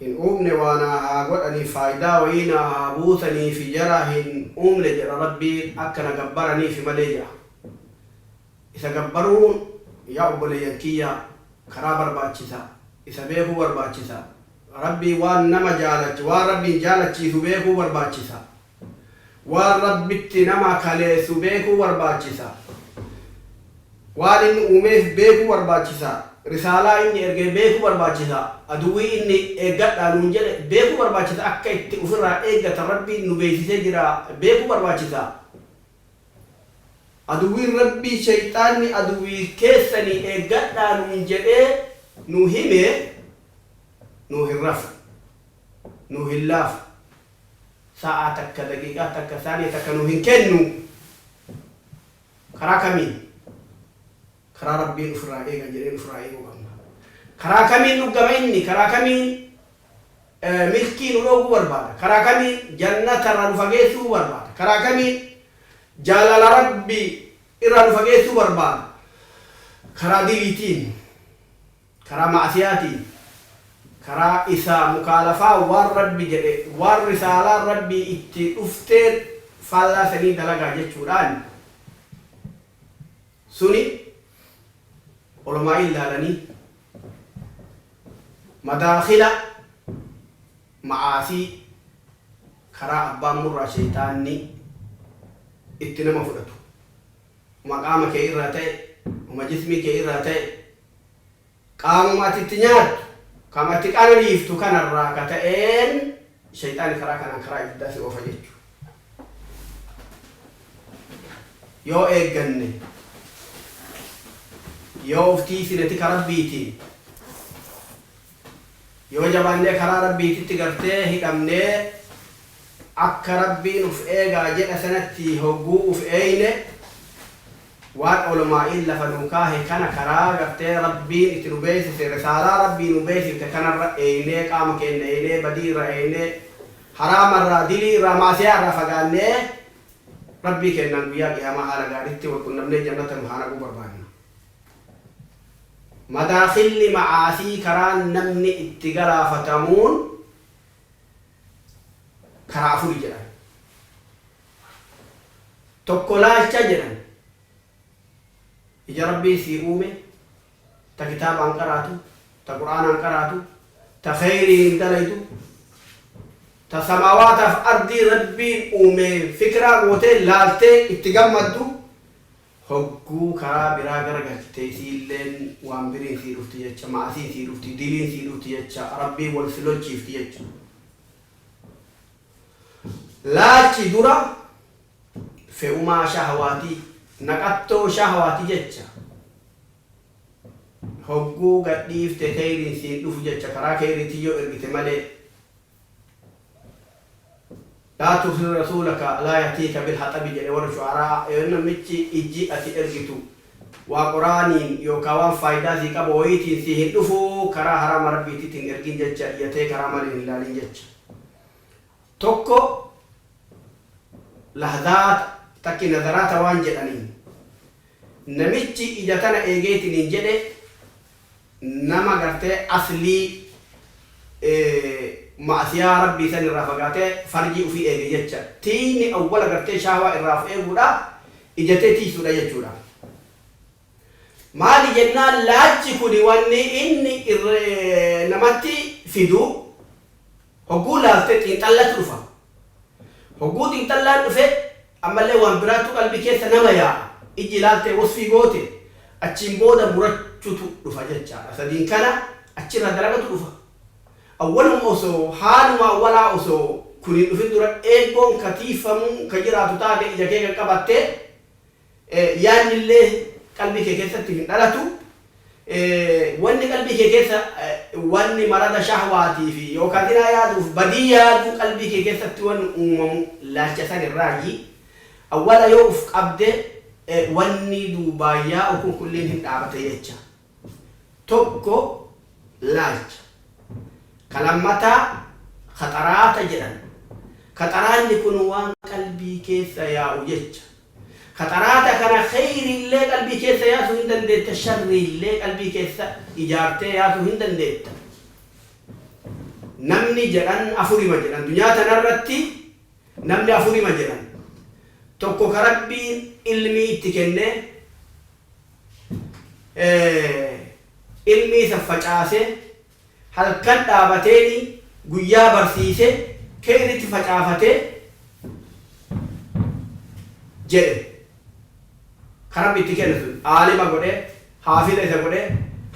hin uumne waa naa haa godhanii faaydaa wayii naa haa buusaniifi jara hin uumne jedha Rabbii akka na gabbaraniifi malee jedha. Isa gabbaruun yaa obboleeyyan kiyya karaa barbaachisa, isa beekuu barbaachisa. Rabbii waan nama jaalachi waan Rabbiin jaalachiisu beekuu barbaachisa. Waan Rabbitti nama kaleessu beekuu barbaachisa. Waan inni uumeef beekuu barbaachisa. Risaalaa inni erge beekuu barbaachisa. Aduwwii inni eeggadhaa nuun jedhe beekuu barbaachisa. Akka itti ufirraa eeggatan Rabbiin nu beeksisee jira beekuu barbaachisa. Aduwwiin Rabbii sheyxaanni aduwwii keessanii eeggadhaa nuun jedhee nu hime nuu hin rafu. Nuu hin laafu. sa'aa takka, daqiiqaa takka, saaniya takka nuu hin kennu. Karaa kamiin? Karaa Rabbiin ufirraa eegan jedheen ufirraa eeguu qabna. Karaa kamiin dhuggama inni? Karaa kamiin milkii nu dhooguu barbaada? Karaa kamiin jannata irraa nu fageessuu barbaada? Karaa kamiin jaalala Rabbii irraa nu fageessuu barbaada? Karaa diliitiin. Karaa ma'asiyaatiin, karaa isaa mukaalafaa waan Rabbi jedhe, waan risaalaan Rabbii itti dhufteen faallaa sanii dalagaa jechuudhaan, suni ulamaa'iin laalanii madaakhila ma'aasii, karaa abbaan murraa sheyxaanni itti nama fudhatu, homa qaama kee irraa ta'e, homa jismii kee irraa ta'e, Qaamuma ati itti nyaattu, kama itti qananiiftu kana irraa ka ta'een sheyxaanni karaa kanaan karaa ibiddaa si oofa jechu. Yoo eegganne, yoo uf tiiysine tika Rabbiitiin, yoo jabaannee karaa Rabbiititti gartee hidhamnee akka Rabbiin uf eegaa jedha sanatti hogguu uf eeyne, Waan Olomaa'iin lafa nuu kaahe kana karaa gartee Rabbiin itti nu beeysise risaalaa Rabbii nuu beeysifte kanarra eeynee qaama keenna eeynee badii irraa eeynee haraama irraa dilii irraa maasiyaa irraa fagaannee Rabbii keennaan guyyaa qiyaamaa haala gaaritti wal qunnamnee jannata nu haa naquu barbaanna. Madaakhilli macaasii karaan namni itti galaafatamuun. karaa afuri jedhan. Tokko laalcha jedhan. Ija Rabbiin sii uume, ta kitaabaan qaraatu, ta Qur'aanaan qaraatu, ta kheyriin dalaydu, ta samaawaataaf ardii Rabbiin uumeen fikiraa gootee laaltee itti gammaddu, Hogguu karaa biraa garagalchite isiilleen waan biriin sii dhufti jecha, ma'asiin sii dhufti, diliin sii dhufti jecha, Rabbiin wal si lolchiifti jecha. Laalchi dura fe'umaa shahawaati, naqattoo shahawaati jecha. Hogguu gad dhiifte keyriin siin dhufu jecha, karaa keyriitiin yoo ergite malee. Laa tursil rasuulaka laa yatiika bil haxabi jedhe warri shu'araa'a Yoo namichi ijji ati ergitu waa qoraaniin yookaa waan faaydaa sii qabu wayiitiin sii hin dhufu karaa haraama Rabbiititti hin ergin jecha yatee karaa malee hin laalin jecha tokko lahzaat takki nazaraata waan jedhaniin namichi ija tana eegeetiniin jedhe nama gartee aslii ma'asiyaa Rabbii san irraa fagaatee farjii ufii eege jecha. Tiiyni awwala gartee shahwaa irraa of eeguudha, ija tee tiiysuudha jechuudha. Maali jennaan laalchi kuni wanni inni namatti fidu hogguu laalte xiinxallatu dhufa. Hogguu xiinxallaan dhufe Ammallee waan biraattu qalbii keessa nama yaa'a. Ijji ilaaltee wasfii goote, achiin booda murachutu dhufa jechaadha. Sadiin kana achirraa dalagatu dhufa. Awwaluma osoo, haaluma awwalaa osoo kun hin dhufin dura eeggoon ka tiiyfamuu ka jiraatu taate ija kee kan qabatte, yaannillee qalbii kee keessatti hin dhalatu. Wanni qalbii kee keessa wanni marada shahwaatii fi yookaa zinaa yaaduuf badii yaaduu qalbii kee keessatti wanni uumamu laalcha san irraayyi. Awwala yoo uf qabde wanni duubaan yaa'u kun kulliin hin dhaabata jecha. Tokko laalcha. Ka lammataa khaxaraata jedhan. Khaxaraanni kun waan qalbii keessa yaa'u jecha. Qaxaraata kana kheyriillee qalbii keessa yaasu hin dandeetta, sharriillee qalbii keessa ijaartee yaasu hin dandeetta. Namni jedhan afurima jedhan. Dunyaa tanarratti namni afurima jedhan. Tokko ka Rabbiin ilmii itti kenne, ilmii san facaasee Halkan dhaabateeni guyyaa barsiise keeritti facaafate jedhe. Ka Rabbi itti kenne sun aalima godhe, haafidha isa godhe,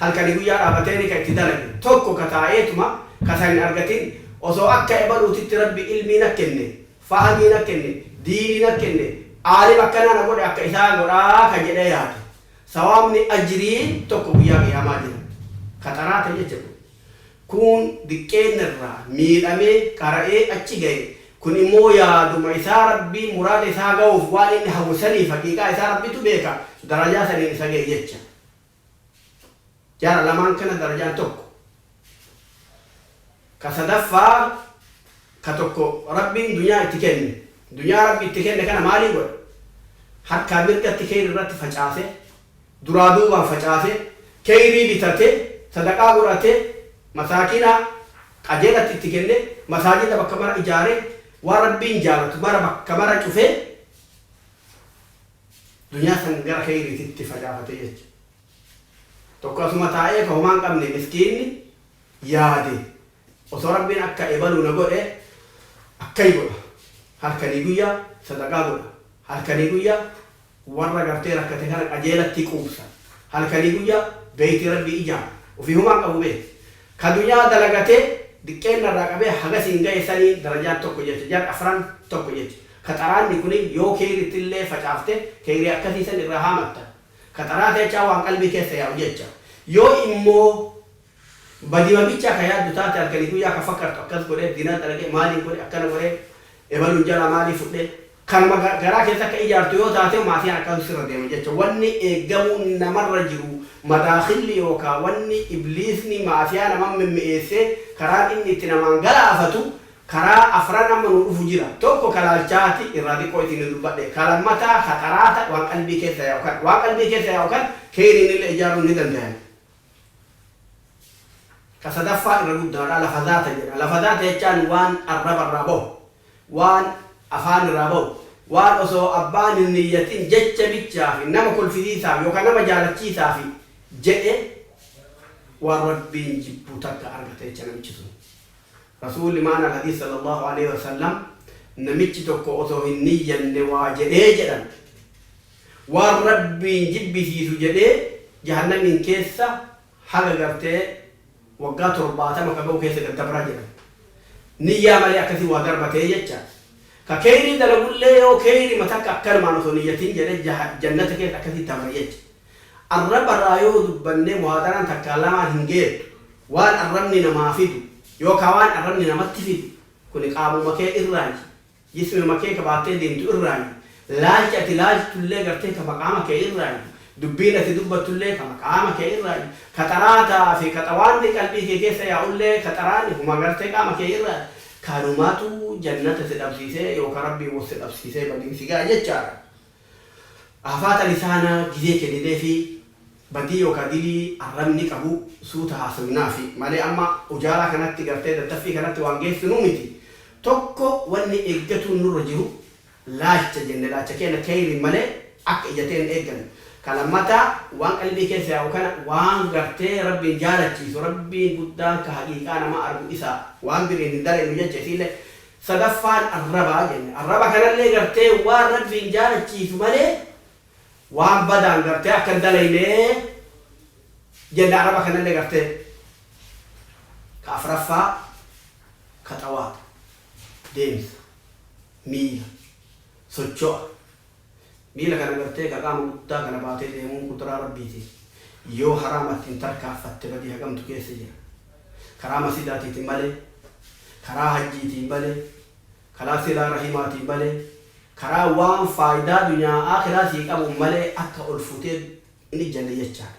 halkani guyyaa dhaabateeni ka itti dalage. Tokko ka taa'eetuma ka isa hin argatin osoo akka ebaluutitti Rabbi ilmii na kenne, fahamii na kenne, diinii na kenne, aalima akkanaa na godhe akka isaa godhaa ka jedhee yaade. Sawaabni, ajriin, tokko Guyyaa Qiyaamaa jira. Ka xaraa ta'e jecha kun. Kuun diqqeenna irraa miidhamee, qara'ee, achi gaye. Kun immoo yaaduma isaa Rabbiin muraada isaa gahuuf waan inni hawwe saniif haqiiqaa isaa Rabbitu beeka, darajaa saniin isa gahe jecha. Jara lamaan kana darajaan tokko. Ka sadaffaa ka tokko Rabbiin dunyaa itti kenne. Dunyaa Rabbi itti kenne kana maalii godha? Harkaa mirgatti kheeyri irratti facaase, duraa duubaan facaase, kheeyrii bitate, sadaqaa godhate, masaakiina qajeelatti itti kenne, masaajida bakka mara ijaare, waan Rabbiin jaalatu mara bakka mara cufe, dunyaa san gara kheeyriititti facaafate jecha. Tokko asuma taa'ee ka homaa hin qabne miskiinni yaade osoo Rabbiin akka ebaluu na godhe akkai godha halkanii guyyaa sadaqaa godha halkanii guyyaa warra gartee rakkate kana qajeelatti quubsa halkanii guyyaa beeytii Rabbii ijaara ufii homaa hin qabu beeki ka dunyaa dalagatee diqqeenna irraa qabee hagasiin gaye saniin darajaan tokko jecha jar afran tokko jecha ka xaraanni kuniin yoo keeyrittillee facaafte keeyrii akkasii san irraa haamatta Ka xaraa teechaa waan qalbii keessa yaa'u jecha. Yoo immoo badima bichaa ka yaaddu taate halkanii guyyaa ka fakkartu akkas godhee dinaa dalagee maaliin godhe akkana godhee ebaluun jalaa maalii fudhee kanuma garaa keessa akka ijaartu yoo taatee maasiyaan akkasuu sirra deema jecha wanni eeggamuun namarra jiru madaakhilli yookaa wanni ibliisni maasiyaa naman mimmi'eessee karaan inni itti namaan galaafatu Karaa afran amma nuu dhufu jira. Tokko ka laalchaati, irraa diqqoo itti inni dubbadhe. Ka lammataa ka qaraata waan qalbii keessa yaa'u kana. Waan qalbii keessa yaa'u kana keeyriinillee ijaaruun ni dandayan. Ka sadaffaa irra guddaadha, lafazaata jedha. Lafazaata jechaan waan arraba irraa bahu, waan afaan irraa bahu, waan osoo abbaan hin niyyatin jecha bichaafi nama kolfisiisaaf yookaa nama jaalachiisaafi jedhe waan Rabbiin jibbu takka argata jecha namichi sun. Rasuulli Ma'naa al-Hadiis sallallaahu aleeyhi wa sallam, Namichi tokko osoo hin niyyanne waa jedhee jedhan. Waan Rabbiin jibbisiisu jedhee Jahannamiin keessa haga gartee waggaa 70 ka gahu keessa daddabra jedhan. Niyyaa malee akkasi waa darbatee jecha. Ka keeyrii dalagullee yoo keeyrima takka akkanumaan osoo niyyatin jedhe jannata keessa akkasi dabra jecha. Arraba irraa yoo dubbanne muhaadaraan takkaa lamaan hin geettu. Waan arrabni namaa fidu yookaa waan arrabni namatti fidu kuni qaamuma kee irraayi. Jismima kee ka baattee deemtu irraayi. Laalchi ati laaltullee gartee tama qaama kee irraayi. Dubbiin ati dubbattullee tama qaama kee irraayi. Ka xaraataa fi ka xawaanni qalbii kee keessa yaa'ullee ka xaraani huma gartee qaama kee irraayi. Kanumatu jannata si dhabsiisee yookaa Rabbiin wal si dhabsiisee badiin si ga'a jechaadha. Haafaata lisaanaa gizee kennineefii badii yookaa dilii arrabni qabu suuta haasawinaafi malee amma ujaalaa kanatti gartee tattaffii kanatti waan geessinuu miti tokko wanni eeggatuun nurra jiru laacha jenne laacha keenna keyriin malee akka ija teenna eeggannu ka lammataa waan qalbii keessa yaa'u kana waan gartee rabbiin jaalachiisu rabbiin guddaan ka haqiiqaa namaa argu isa waan biriin hin dalaynu jecha isiille Sadaffaan arraba jenne. Arraba kanallee gartee waan Rabbiin jaalachiisu malee waan badaan gartee akka hin dalayne jenne arraba kanallee gartee. Ka afraffaa khaxawaat, deemsa, miila, socho'a. Miila kana gartee ka qaama guddaa kana baatee deemuun qudraa Rabbiiti. Yoo haraamatti hin tarkaanfatte badii hagamtu keessa jira. Karaa masiidaatiitiin malee, karaa hajjiitiin malee, kalaa silaa rahimaatiin malee, karaa waan faaydaa dunyaa aakhiraa sii qabuun malee akka ol futee hin ijjanne jechaadha.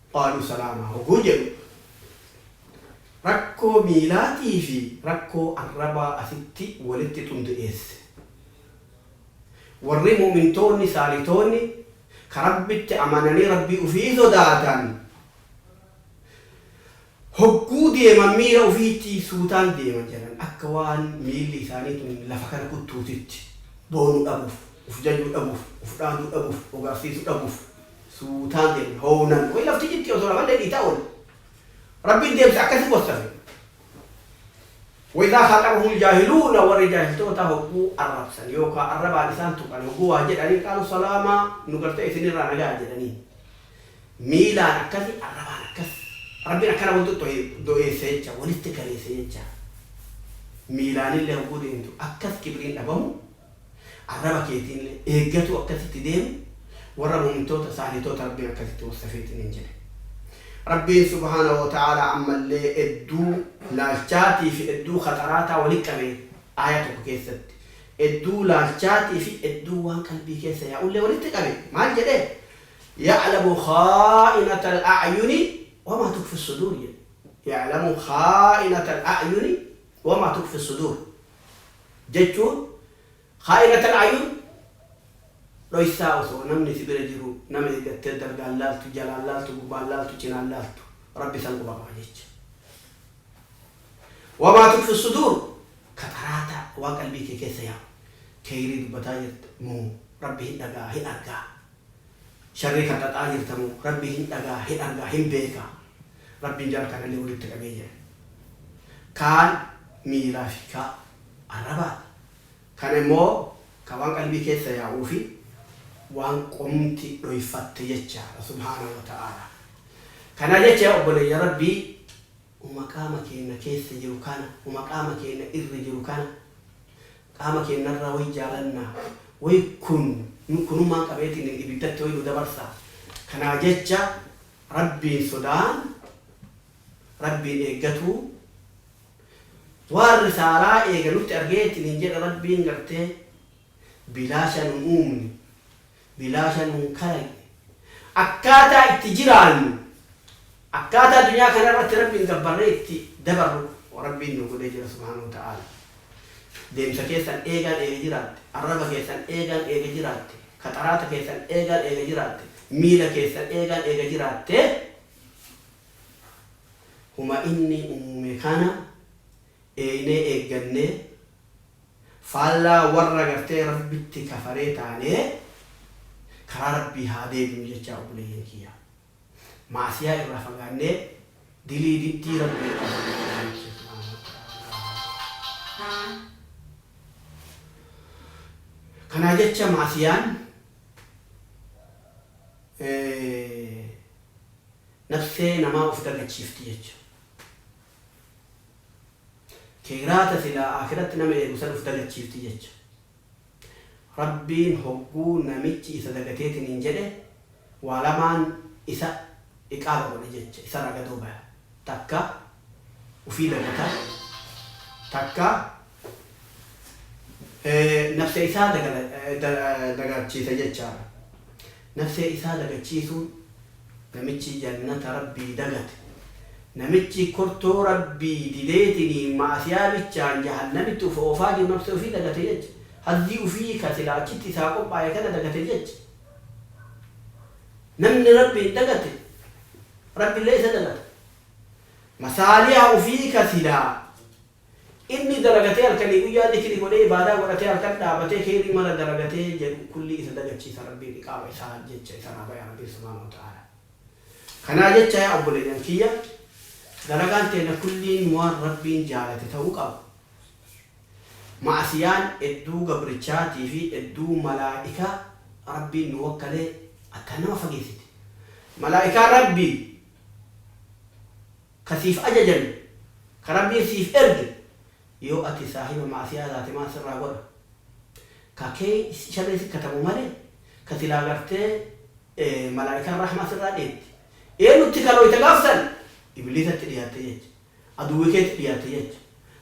Qaaluu salaamaa hogguu jedhu rakkoo miilaatii fi rakkoo arrabaa asitti walitti xundu'eesse. Warri mu'mintoonni saalihtoonni ka Rabbitti amananii Rabbii ufii sodaatan Hogguu deeman miira ufiitti suutaan deeman jedhan akka waan miilli isaanii tun lafa kana kuttuutitti. Boonuu dhabuuf, uf jajuu dhabuuf, uf dhaaduu dhabuuf, of garsiisuu dhabuuf suutaan deeman. Hownan way lafti citti osoo rafan dhedhiitaa oole. Rabbiin deemsa akkasii wassafe. Wa izaa khaaxabahumul jaahiluuna warri jaahiltoota hogguu arrabsan yookaa arrabaan isaan tuqan hogguu waa jedhaniin qaaluu salaamaa nu gartee isinirraa nagaa jedhaniin. miilaan akkasi arrabaan akkas Rabbiin akkana wal xoxxo'ee do'eesse jecha walitti kaleesse jecha miilaanillee hogguu deemtu akkas kibriin dhabamu arraba keetiinillee eeggatuu akkasitti deemu warra mu'mintoota saalihtoota Rabbiin akkasitti wassafeetiin hin jedhe Rabbiin subhaanahu wa ta'aalaa ammallee edduu laalchaatii fi edduu khaxaraataa wali qabe aaya tokko keessatti edduu laalchaatii fi edduu waan qalbii keessa yaa'ullee walitti qabe maal jedhe Ya'lamu khaa'inatal a'yuni wamaa tukfis suduur jedhe. Ya'lamu khaa'inatal a'yuni wamaa tukfis suduur jechuun khaa'inatal a'yun dhoysaa osoo namni si bira jiru nama eegattee dalgaan laaltu, jalaan laaltu, gubbaan laaltu, cinaan laaltu Rabbi san quba qaba jecha. Wamaa tukfis suduur ka xaraataa waan qalbii tee keessa yaa'u. Kheeyrii dubbataa jirta moo Rabbi hin dhaga'a, hin argaa? Sharrii kan xaxaa jirtamoo Rabbi hin dhagaha, hin argaa, hin beeka. Rabbiin jara kanallee walitti qabee jira. Kaan miilaa fi kaa arrabaati. Kan immoo ka waan qalbii keessa yaa'uu fi waan qomti dhoyfatte jechaadha. Subhaanahu wa ta'aalaa. Kana jecha yaa obboleeyyan Rabbii! uma qaama keenna keessa jiru kana, uma qaama keenna irra jiru kana, qaama keenna irraa woy jaalanna, woy kun nu kunummaan qabeetiin ibiddatti woy nu dabarsa. Kanaa jecha Rabbiin sodaan, Rabbiin eeggatuu, waan risaalaa eega nutti argee ittiin hin jedhe Rabbiin gartee bilaasha nun uumne, bilaasha nu hin kalaqne. Akkaataa itti jiraannu, akkaataa duniyaa kana irratti Rabbiin gabbarree itti dabarru Rabbiin nuu godhee jira subhaanahu wa ta'aalaa. Deemsa keessan eegaan eega jiraatte, arraba keessan eegaan eega jiraatte, kaxaraata keessan eegaan eega jiraatte, miila keessan eegaan eega jiraatte, huma Inni uume kana, eeynee eeggannee, faallaa warra gartee Rabbitti kafaree taanee, karaa Rabbii haa deebinu jechaa obboleeyyan kiyya. Ma'asiyaa irraa fagaannee, dilii diddii Rabbii qabannu Rabbiin kiyya subhaanahu wa ta'aalaa. Kanaa jecha ma'asiyaan nafsee namaa of dagachiifti jechu. Keeyraa ta silaa Aakhiratti nama eegu san uf dagachiifti jecha. Rabbiin hogguu namichi isa dagateetiniin jedhe waa lamaan isa iqaaba godha jecha, isarraa gadoo baya. Takka ufii dagata, takka Nafsee isaa dagaachiisa jechaadha. Nafsee isaa dagachiisuun namichi jannata Rabbii dagate, namichi kurtoo Rabbii dideetiniin ma'asiyaa bichaan jahannamitti uf oofaa jiru nafsee ufii dagate jecha. Hazzii ufii ka silaa achitti isaa qophaaye kana dagate jecha. Namni Rabbiin dagate Rabbillee isa dagata. Masaaliha ufii ka silaa Inni dalagatee halkanii guyyaa zikrii godhee ibaadaa godhatee halkan dhaabatee kheeyrii mara dalagatee jedhu kullii isa dagachiisa Rabbiin iqaaba isaa jecha isarraa baya Rabbiin subhaanahu wa ta'aalaa. Kanaa jecha yaa obboleeyyan kiyya dalagaan teenna kulliin waan Rabbiin jaalate ta'uu qaba. Ma'asiyaan edduu gabrichaatii fi edduu malaa'ika Rabbiin nu wakkalee akkaan nama fageessiti. Malaa'ikaan Rabbii. ka siif ajajame, ka Rabbiin siif erge, yoo ati saahiba ma'asiyaa taate maal sirraa godha? Ka key sharrii si katabu malee, ka silaa gartee malaa'ikaan rahmaa sirraa dheetti. Eennutti kalooyta gaaf san? Ibliisatti dhiyaatte jecha. Aduwwi keetti dhiyaatte jecha.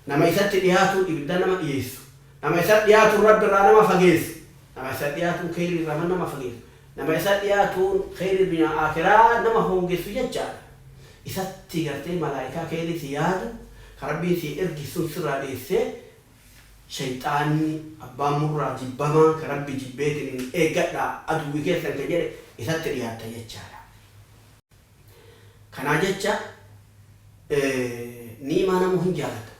Nama isatti dhiyaatuun ibidda nama dhiyeessu. Nama isatti dhiyaatuun Rabbi irraa nama fageessu. Nama isatti dhiyaatuun kheeyrii irraa man nama fageessu. Nama isatti dhiyaatuun kheeyrii dunyaa aakhiraa nama hoongessu jechaadha. Isatti gartee malaa'ikaa kheeyrii si yaadu, ka Rabbiin sii erge sun sirraa dheessee, sheyxaanni, abbaan murraa, jibbamaan, ka Rabbi jibbeetiniin, eeggadhaa, aduwwi keessan kan jedhe, isatti dhiyaatta jechaadha. Kanaa jecha Niimaa namuu hin jaalata.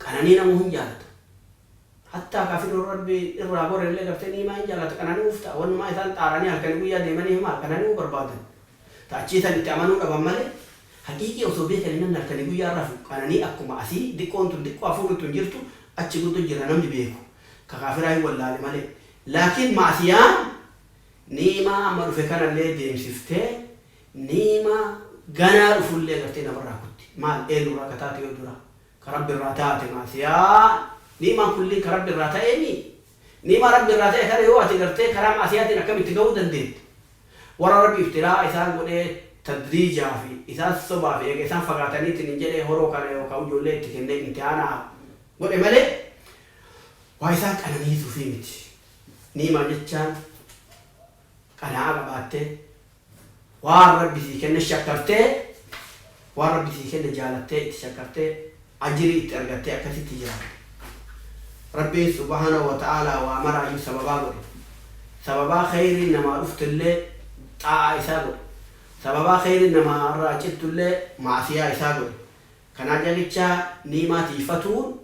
Qananii namuu hin jaalata. Hattaa kaa firoon rabbi irraa gore illee gartee Niimaa hin jaalata qanani'uuf ta'a. Wannumaa isaan xaaranii halkani guyyaa deemaniif maal qanani'uu barbaadan. Ta achii tan itti amanuu dhaban malee haqiiqii osoo beekanii namni halkanii guyyaa rafu qananii akkuma asii diqqoon tun diqqoo hafuurri tun jirtu achi guddo jira namni beeku ka kaafiraa hin wallaale malee. Laakiin ma'asiyaan Ni'imaa amma dhufe kanallee deemsiftee ni'imaa ganaa dhufullee gartee namarraa kutti. Maal? Eenyurraa ka taate yoo dura ka Rabbirraa taate ma'asiyaan ni'imaan kulliin ka Rabbirraa ta'eemii? Ni'imaa Rabbirraa ta'e kana yoo ati gartee karaa ma'asiyaatiin akkamitti gahuu dandeetta? Warra Rabbi ibtilaa'a isaan godhee tadriijaa fi isaan sobaa fi eega isaan fagaataniitiin jedhee horoo kana yookaa ujoollee itti kennee imtihaanaa godhe malee waa isaan qananiisuufii miti. ni'ima jechaan qana'aa qabaattee, waan Rabbi sii kenne shakkartee, waan Rabbi sii kenne jaalattee itti shakkartee ajrii itti argattee akkasitti jiraatte. Rabbiin subhaanahu wa ta'aalaa waa maraayyuu sababaa godhe. Sababaa kheyriin namaa dhuftillee xaa'aa isaa godhe. Sababaa kheyriin namaa irraa cittullee ma'asiyaa isaa godhe. Kanaa jechaa ni'imaa tiyfatuun.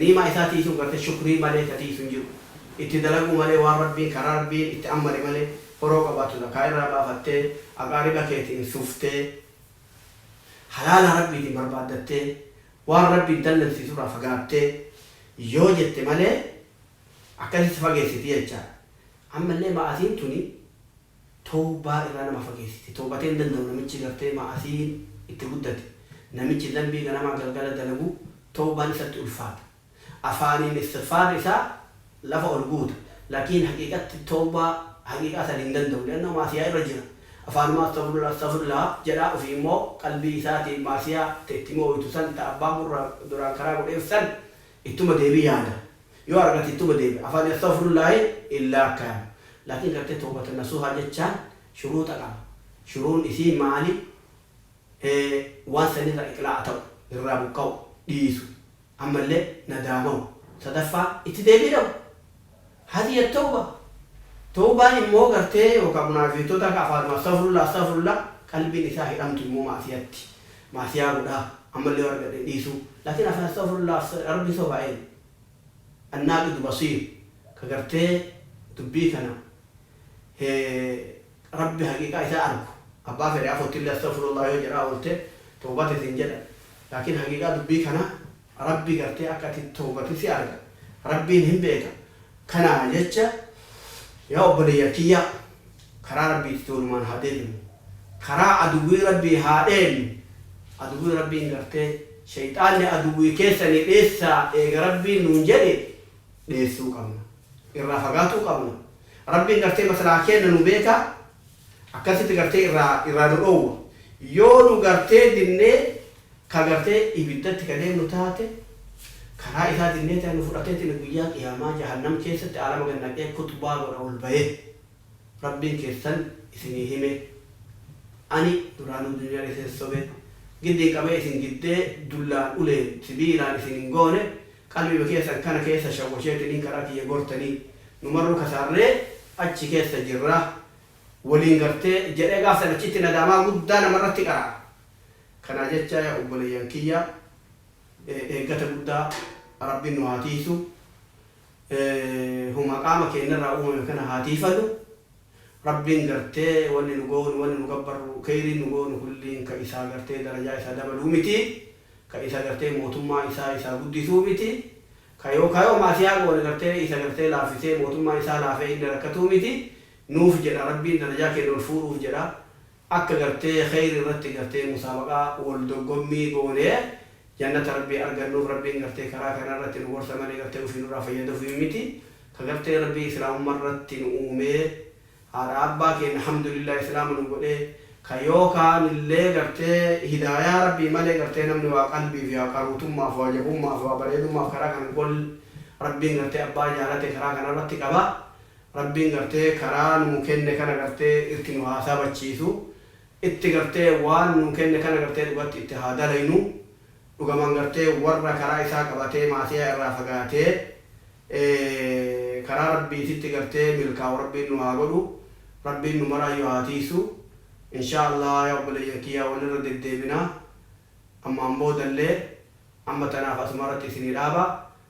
Niimaa isaa tiisuun garte shukrii malee ta tiisu hin jiru. Itti dalaguu malee waan Rabbiin karaa Rabbiin itti ammare malee horoo qabaattu zakaa irraa baafattee aqaariba keetiin suftee halaala Rabbiitiin barbaaddattee waan Rabbiin dallansiisu irraa fagaattee yoo jette malee akkasitti fageessiti jecha. Ammallee ma'asiin tuni. towbaa irraa nama fageessiti. Towbatee hin danda'u namichi gartee ma'asiin itti guddate. Namichi zanbii ganamaa galgala dalagu towbaan isatti ulfaata. Afaaniin istighfaarri isaa lafa ol guuta. Lakiin haqiiqatti towbaa haqiiqaa san hin danda'u. Li'annahu ma'asiyaa irra jira. Afaanumaa Astaghfirullaah Astaghfirullaah jedha ofii immoo qalbii isaatiin ma'asiyaa ta itti mi'ooytu san ta abbaa murraa duraan karaa godheef san Ittuma deebi yaada yoo argate ittuma deebi afaani Astaghfirullaahi illa akkayama lakin garte towbatan nasuha jechaan shuruuxa qaba shuruun isii maali hee waan san irra iqlaa'a ta'u irraa buqqa'u dhiisu ammalle nadaamahu sadaffaa itti deebii dhabu Hadiya Tawba, Tawbaan immoo gartee yookaa munaafiqtota ka afaanuma Astaghfirullah Astaghfirullah qalbiin isaa hidhamtu immoo ma'asiyatti ma'asiyaa godhaa ammallee yoo argadhe hin dhiisuu laakiin afaan Astaghfirullah Astaghfirullah Rabbi sobaa eenyu? Annaaqidu Basiir ka gartee dubbii kana he Rabbi haqiiqaa isaa argu abbaa fedhe afoottillee Astaghfirullah yoo jedhaa oolte Tawbate siin jedha laakiin haqiiqaa dubbii kanaa Rabbi gartee akka ati towbatu si arga. Rabbiin hin beeka. Kanaaf jecha yaa obboleeyyan kiyya karaa Rabbiititti walumaan haa deebinu. Karaa aduwwii Rabbii haa dheennu. Aduwwiin Rabbiin gartee sheyxaanni aduwwii keessani dheessaa eega Rabbiin nuun jedhe dheessuu qabna. Irraa fagaatuu qabna. Rabbiin gartee maslaha keenna nu beeka. Akkasitti gartee irraa irraa nu dhoowwa. Yoo nu gartee dinnee ka gartee ibiddatti ka deemnu taate, karaa isaa dinnee tana nu fudhateetiin guyyaa qiyaamaa jahannam keessatti aalama gad naqee khuxbaa godha ol bahee, Rabbiin keessan isinii hime, ani duraanuu dunyaan isin sobe, giddiin qabee isin giddee dullaan uleen, sibiilaan isin hin goone, Qalbima keessan kana keessa shawwasheetiniin karaa kiyya gortanii nu marruu kasaarree achi keessa jirra waliin gartee jedhee gaaf san achitti nadaamaa guddaa namarratti qara'a. Kanaa jechaa yaa obboleeyyan kiyya eeggata guddaa Rabbiin nu haa tiiysu. Huma qaama keennarraa uumame kana haa tiiyfanu. Rabbiin gartee wanni nu goonu wanni nu gabbarru keyriin nu goonu kulliin ka isaa gartee darajaa isaa dabaluu miti ka isa gartee mootummaa isaa isaa guddisuu miti ka yoo ka yoo ma'asiyaa goone gartee isa gartee laaffisee mootummaa isaa laafee inni rakkatuu miti nuuf jedha Rabbiin darajaa keenya ol fuudhuuf jedha Akka gartee kheeyri irratti gartee musaabaqa wal doggommii goonee jannata Rabbii argannuuf Rabbiin gartee karaa kana irratti nu gorsa malee gartee ufii nurraa fayyadafufi miti. Ka gartee Rabbii Islaamumma irratti nu uumee haadha abbaa keenna hamdulillah Islaama nu godhee ka yoo kaanillee gartee hidaayaa Rabbii malee gartee namni waa qalbiif yaa qaruutummaaf waa jabummaaf waa bareedummaaf karaa kana hin golle Rabbiin gartee abbaa jaalate karaa kana irratti qaba. Rabbiin gartee karaa nuu kenne kana gartee irrti nu haa sabachiisu itti gartee waan nuu kenne kana gartee dhugatti itti haa dalaynu dhugaman gartee warra karaa isaa qabatee maasiyaa irraa fagaatee karaa rabbiititti gartee milkaawu rabbiin nu haa godhu rabbiin nu maraayyu haa tiysu inshaa allaah yaa obboleeyyan kiyyaa wal irra deddeebina ammaan boodallee amma tanaaf asumarratti isinii dhaaba